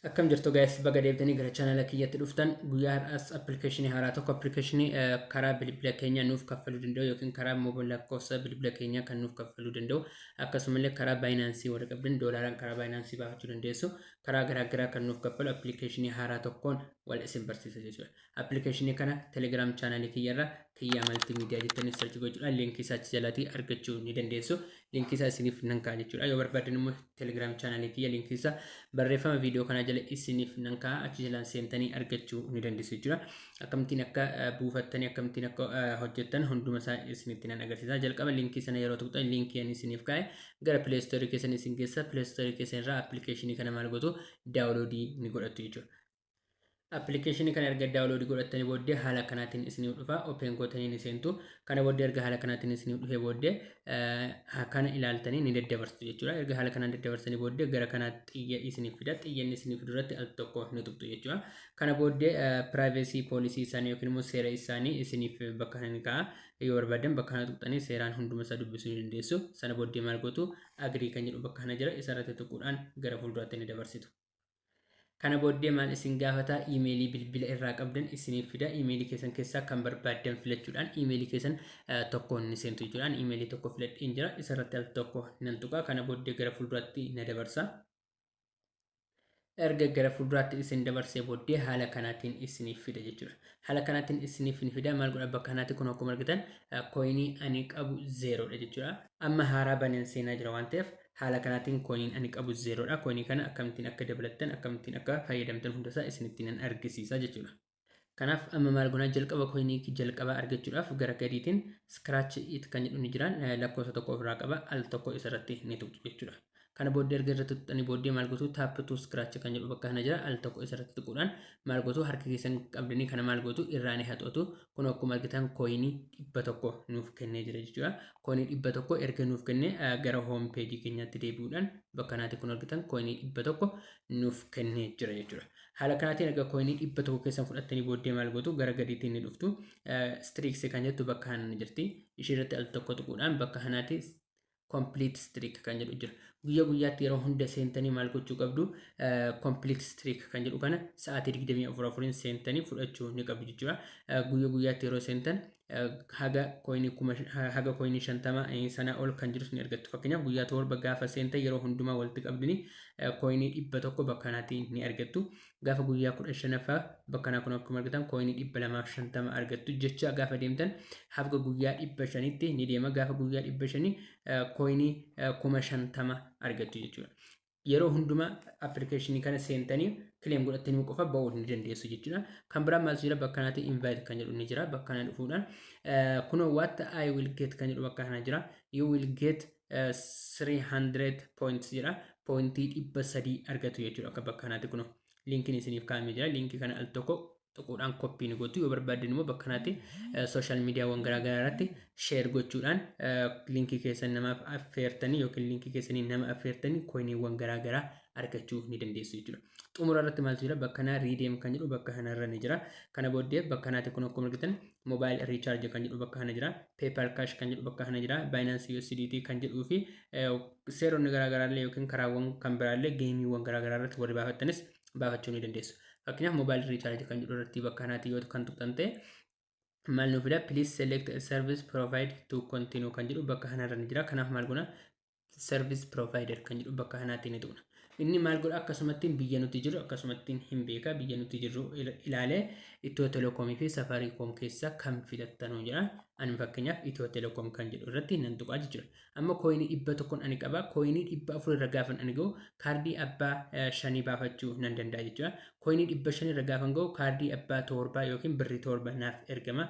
Akkam jirtu guys baga deebitanii gara chaanala kiyyatti dhuftan guyyaa har'aas appilikeeshinii haaraa tokko appilikeeshinii karaa bilbila keenya nuuf kaffaluu danda'u yookiin karaa mobil lakkoofsa bilbila keenya kan nuuf kaffaluu danda'u akkasumallee karaa baayinaansii warra qabdan doolaaraan karaa baayinaansii baafachuu dandeessu karaa garaagaraa kan nuuf kaffalu appilikeeshinii haaraa tokkoon wal isin barsiisa jechuudha. Application kana telegram channel kiyya irra kiyyaa multimedia jettanii search gochuudhaan link isaa achi jalaatii argachuu ni dandeessu. Link isaa isiniif nan kaa'a jechuudha. Yoo barbaaddan immoo telegram channel kiyya link isaa barreeffama viidiyoo kanaa jala isiniif nan kaa'a achi jalaan seentanii argachuu ni dandeessu jechuudha. Akkamittiin akka buufattanii akkamittiin akka hojjettan hunduma isaa isinitti nan agarsiisa. Jalqaba linkii sana yeroo tuqxan linkii ani isiniif kaa'e gara Play Store keessan isin geessa. Play Store keessan irraa application kana maal gootu daawuloodii ni godhattu jechuudha. Appilikeeshinii kana erga daawuloodii godhattanii booddee haala kanaatiin isiniif dhufa. Open gootanii ni seentu. Kana booddee erga haala kanaatiin isiniif dhufee booddee kana ilaaltanii ni daddabarsitu jechuudha. Erga haala kanaan daddabarsanii booddee gara kanaa xiyya isiniif fida. Xiyyanni isiniif fidu irratti al tokko ni tuqxu jechuudha. Kana booddee piraayivesii poolisii isaanii yookiin immoo seera isaanii isiniif bakka kana ni kaa'a. Yoo barbaadan bakka kana tuqxanii seeraan hunduma isaa dubbisuu ni dandeessu. Sana booddee maal gootu? Agrii kan jedhu bakka kana jira. Isa irratti tuquudhaan gara fuulduraatti ni dabarsitu. Kana booddee maal isin gaafata iimeelii bilbila irraa qabdan isiniif fida iimeelii keessan keessaa kan barbaaddan filachuudhaan iimeelii keessan tokkoon ni seentu jechuudhaan iimeelii tokko filadheen jira isarratti al tokko nan tuqa kana booddee gara fuulduraatti na dabarsa. erga gara fuulduraatti isin dabarsee booddee haala kanaatiin isiniif fida jechuudha. Haala kanaatiin isiniif hin fida maal godha bakka kanaatti kun akkuma argitan kooyinii ani qabu zeeroodha jechuudha. Amma haaraa baneen seenaa jira waan ta'eef Haala kanaatiin koiniin ani qabu zeeroodha. Koinii kana akkamittiin akka dabalattan akkamittiin akka fayyadamtan hundasaa isinitti nan argisiisa jechuudha. Kanaaf amma maal gonaa jalqaba koinii jalqabaa argachuudhaaf gara gadiitiin scratch it kan jedhu ni jiraan lakkoofsa tokko ofirraa qaba al tokko isarratti ni tuqxu jechuudha. Kana booddee erga irratti tuqxanii booddee maal gotuu tap to scratch kan jedhu bakka kana jira al tokko isarratti tuquudhaan maal gotuu harka keessan qabdanii kana maal gotuu irraa ni haxootu kun akkuma argitan kooyinii dhibba tokko nuuf kennee jira jechuudha. Kooyinii dhibba tokko erga nuuf kennee gara hoom peejii keenyaatti deebi'uudhaan bakka naati kun argitan kooyinii dhibba tokko nuuf kennee jira jechuudha. Haala kanaatiin erga kooyinii dhibba tokko keessan fudhattanii booddee maal gootu gara gadiitiin ni dhuftu. Stiriiksi kan jettu bakka hanaan jirti. Ishee irratti al tokko tuquudhaan bakka hanaati complete streak kan jedhu jira. Guyyaa guyyaatti yeroo hunda seentanii maal gochuu qabdu complete streak kan jedhu kana sa'aatii 24 afuriin seentanii fudhachuu ni qabdu jechuudha. Guyyaa guyyaatti yeroo seentan haga koinii kuma haga koinii shantama sana ol kan jirus ni argattu. Fakkeenyaaf guyyaa torba gaafa seentan yeroo hundumaa walitti qabdanii koinii dhibba tokko bakka kanaatiin ni argattu. gaafa guyyaa kudha shanaffaa bakka kanaa kun akkuma argitan kooyinii dhibba lamaaf shantama argattu jecha gaafa deemtan hafga guyyaa dhibba shanitti ni deema gaafa guyyaa dhibba shanii kooyinii kuma shantama argattu jechuudha. Yeroo hundumaa appilikeeshinii kana seentanii kileem godhattanii qofa ba'uu ni dandeessu jechuudha. Kan biraa maal jira bakka kanatti invite kan jedhu ni jira bakka kana dhufuudhaan kunoo what I will get kan jedhu bakka kana jira you will get 300 points jira pointii dhibba sadii argatu jechuudha akka bakka kanaatti kuno linkiin isiniif kaa'amee jira linkii kana al tokko tuquudhaan koppii ni gootu yoo barbaaddan immoo bakka kanaatti sooshaal miidiyaawwan garaagaraa irratti sheer gochuudhaan linkii keessan namaaf affeertanii yookiin linkii keessanii nama affeertanii koiniiwwan garaagaraa argachuu ni dandeessu jechuudha. Xumura irratti maaltu jira bakka kanaa riideem kan jedhu bakka kanarra ni jira. Kana booddee bakka kanaatti kun akkuma argitan mobile recharge kan jedhu bakka kana jira paypal cash kan jedhu bakka kana jira binance usdt kan jedhuu fi seeronni garaagaraallee yookiin karaawwan kan biraallee geemiiwwan garaagaraa irratti warri baafattanis baafachuu ni dandeessu fakkeenyaaf mobile recharge kan jedhu irratti bakka kanaatti yoo kan tuqxan ta'e maal nuuf fida please select a service provide to continue kan jedhu bakka kanarra ni jira kanaaf maal gona service provider kan jedhu bakka kanaatti ni tuqna. Inni maal godha akkasumattiin biyya nuti jiru akkasumattiin hin beeka biyya nuti jirru ilaalee Itiyoo Telekoomii fi Safaariikoom keessaa kan filattanuu jedha. Ani fakkeenyaaf Itiyoo Telekoom kan jedhu irratti nan tuqaa jechuudha. Amma kooyinii dhibba tokkoon ani qaba kooyinii dhibba afur irra gaafan ani gahu kaardii abbaa shanii baafachuu nan danda'a jechuudha. Kooyinii dhibba shan irra gaafan gahu kaardii abbaa torbaa yookiin birrii torba naaf ergama.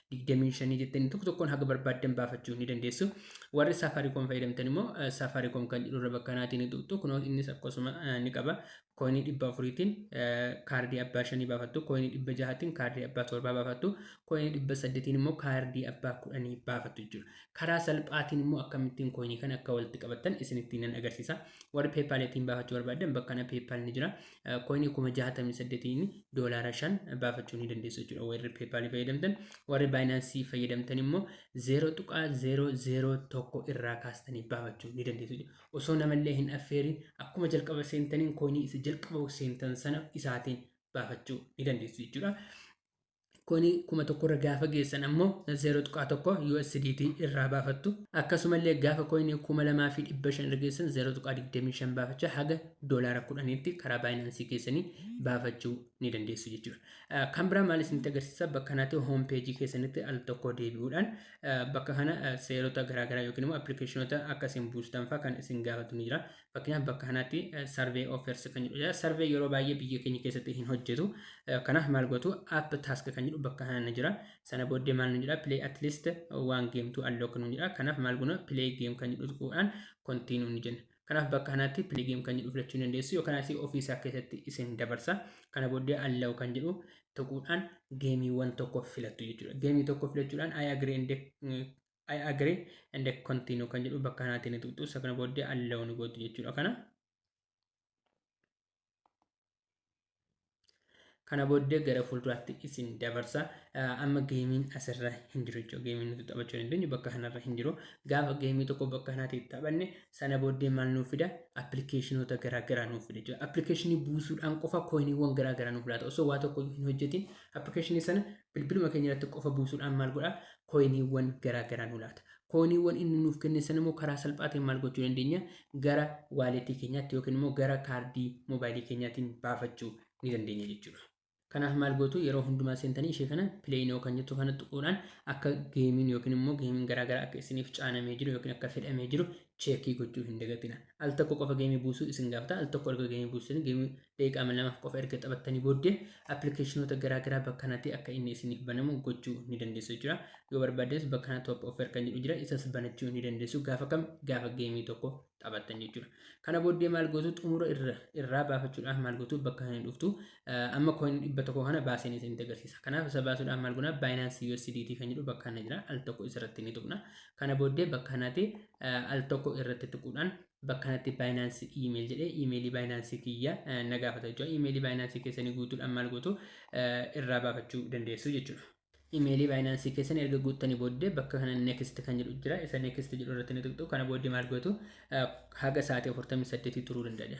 digdamii shanii jettanii tokko tokkoon haga barbaaddan baafachuu ni dandeessu. Warri Safaricom fayyadamtan immoo Safaricom kan jedhu irra bakka kanaatiin ni tuqxu. Kunoo innis akkasuma ni qaba. Kooyinii dhibba afuriitiin kaardii abbaa shanii baafattu. Kooyinii dhibba jahaatiin kaardii abbaa torbaa baafattu. Kooyinii dhibba saddeetiin immoo kaardii abbaa kudhanii baafattu jechuudha. Karaa salphaatiin immoo akkamittiin kooyinii kana akka walitti qabattan isinitti nan agarsiisa. Warri peepaaliitiin baafachuu barbaaddan bakka kana peepaal ni jira. koinii kuma jahatamii saddetiin doolaara shan baafachuu ni dandeessu jechuudha warri peepaalii fayyadamtan warri baayinaansii fayyadamtan immoo zeeroo tuqaa zeeroo zeeroo tokko irraa kaastanii baafachuu ni dandeessu jechuudha osoo namallee hin affeerin akkuma jalqaba seentaniin koinii isa jalqaba seentan sana isaatiin baafachuu ni dandeessu jechuudha. Kuni kuma tokko irra gaafa geessan ammoo 0.1 USDT irraa baafattu. Akkasumallee gaafa koyinii kuma lamaa fi dhibba shan irra geessan 0.25 baafachaa haga doolaara kudhaniitti karaa baayinaansii keessanii baafachuu ni dandeessu jechuudha. Kan biraa maal isinitti agarsiisa bakka kanatti hoom peejii keessanitti al tokko deebi'uudhaan bakka kana seerota garaagaraa yookiin immoo appilikeeshinoota akka isin buustan fa'aa kan isin gaafatu ni jira. Fakkeenyaaf bakka kanatti survey offers kan jedhu jira. Survey yeroo baay'ee biyya keenya keessatti hin hojjetu. Kanaaf maal gootu app task kan jedhu bakka kana jira. Sana booddee maal nu jedha play at least one game to unlock nu jedha. Kanaaf maal goona play game kan jedhu tuquudhaan continue ni jenna. Kanaaf bakka kanatti play game kan jedhu filachuu dandeessu yookaan asii ofii isaa keessatti isin dabarsa. Kana booddee allow kan jedhu tuquudhaan geemiiwwan tokko filattu jechuudha. Geemii tokko filachuudhaan I agree and I agree and I continue kan jedhu bakka kanaatiin ni tuqxu isa kana booddee allow ni gootu jechuudha kana. Kana booddee gara fuulduraatti isin dabarsa. Amma geemiin asirra hin jiru jechuudha. Geemiin nuti taphachuu dandeenyu bakka kanarra hin jiru. Gaafa geemii tokko bakka kanaatiin taphanne sana booddee maal nuuf fida? Appilikeeshinoota garaagaraa nuuf fida jechuudha. Appilikeeshinii buusuudhaan qofa kooyiniiwwan garaagaraa nuuf laata. Osoo waa tokko hin hojjetin appilikeeshinii sana Bilbiluma keenya irratti qofa buusuudhaan maal godha? Kooyiniiwwan garaa garaa nu laata. Kooyiniiwwan inni nuuf kenne sana immoo karaa salphaa ta'een maal gochuu dandeenya? Gara waaleetii keenyaatti yookiin immoo gara kaardii moobaayilii keenyaatiin baafachuu ni dandeenya jechuudha. Kanaaf maal gootu yeroo hundumaa seentanii ishee kana play now kan jettu kana tuquudhaan akka geemiin yookiin immoo geemiin garaa garaa akka isiniif caanamee jiru yookiin akka fedhamee jiru cheekii gochuu hin dagatina. Al tokko qofa geemii buusuu isin gaafata. Al tokko erga geemii buusanii geemii daqiiqaa mil lamaaf qofa erga taphattanii booddee appilikeeshinoota garaa garaa bakka kanatti akka inni isiniif banamu gochuu ni dandeessu jira. Yoo barbaaddes bakka kana top offer kan jedhu jira isas banachuu ni dandeessu gaafa kam gaafa geemii tokko taphattan jechuudha. Kana booddee maal gootu xumura irra irraa baafachuudhaaf maal gootu bakka kana dhuftu amma coin dhibba tokko kana baaseen isinitti agarsiisa. Kanaaf isa baasuudhaaf maal goona Binance USDT kan jedhu bakka kana jira al tokko isarratti ni tuqna. Kana booddee bakka kanatti al tokko irratti tuquudhaan bakka kanatti Binance email jedhee email Binance kiyya na gaafata jechuudha. Email Binance keessanii guutuudhaan maal gootu irraa baafachuu dandeessu jechuudha. Email Binance keessan erga guuttanii booddee bakka kana next kan jedhu jira. Isa next jedhu irratti ni tuqxu. Kana booddee maal gootu haga sa'aatii 48 turuu danda'a.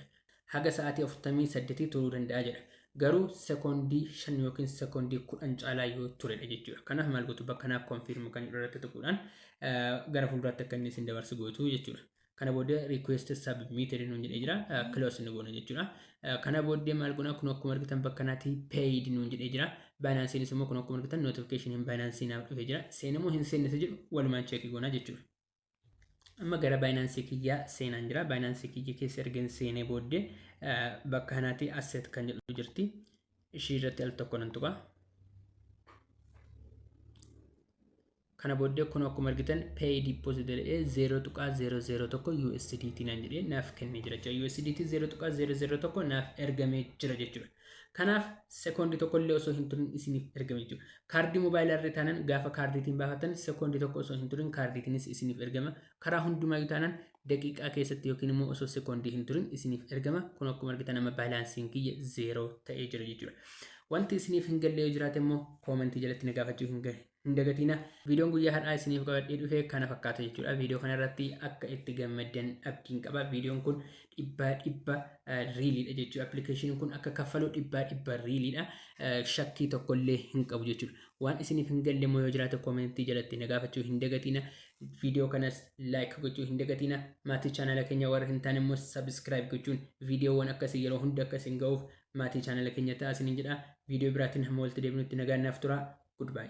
haga sa'aatii 48 turuu danda'a jedha. Garuu sekoondii 5 yookiin sekoondii 10 caalaa yoo turedha jechuudha. Kanaaf maal gootu bakka naaf konfiirm kan irratti tuquudhaan gara fuulduraatti akka inni isin dabarsu gootu jechuudha. Kana booddee request submitted nuun jedhee jira. Close nu goona jechuudha. Kana booddee maal goona kun akkuma argitan bakka naati paid nuun jedhee jira. Baayinaansiinis immoo kun akkuma argitan notification hin baayinaansii naaf dhufee jira. Seenamoo hin seenne isa jedhu walumaan cheekii goona jechuudha. amma gara baayinaansii kiyyaa seenaan jira baayinaansii kiyya keessa ergeen seenee booddee bakka kanaatii asset kan jedhu jirti ishii irratti al tokko nan tuqa kana booddee kun akkuma argitan pay deposit jedhee 0.001 USDT nan jedhee naaf kennee jira jechuudha USDT 0.001 naaf ergamee jira jechuudha Kanaaf sekoondii tokko illee osoo hin turin isiniif ergame jechuudha. Kaardii moobaayilaa irra taanaan gaafa kaardiitiin baafattan sekoondii tokko osoo hin turin kaardiitiinis isiniif ergama. Karaa hundumaayyuu taanaan daqiiqaa keessatti yookiin immoo osoo sekoondii hin turin isiniif ergama. Kun akkuma argitan amma baalaansiin kiyya zeeroo ta'ee jira jechuudha. Wanti isiniif hin galle yoo jiraate immoo koomentii jalatti na gaafachuu hin gahe. Hin dagatiina viidiyoon guyyaa har'aa isiniif qabadhee dhufe kana fakkaata jechuudha. Viidiyoo kana irratti akka itti gammaddan abdiin qaba. Viidiyoon kun dhibbaa dhibba riiliidha jechuudha. Appilikeeshiniin kun akka kaffalu dhibbaa dhibba riiliidha. Shakkii tokkollee hin qabu jechuudha. Waan isiniif hin galle immoo yoo jiraate koomentii jalatti na gaafachuu hin dagatiina. Viidiyoo kanas laayik gochuu hin dagatiina. Maatii chaanaala keenya warra hin taane immoo sabiskiraayib gochuun viidiyoowwan akkasii yeroo hunda akka isin ga'uuf Maatii channel keenyaa ta'aa isiniin jedha. Video biraatiin hamma walitti deebinutti nagaan naaf turaa. Goodbye.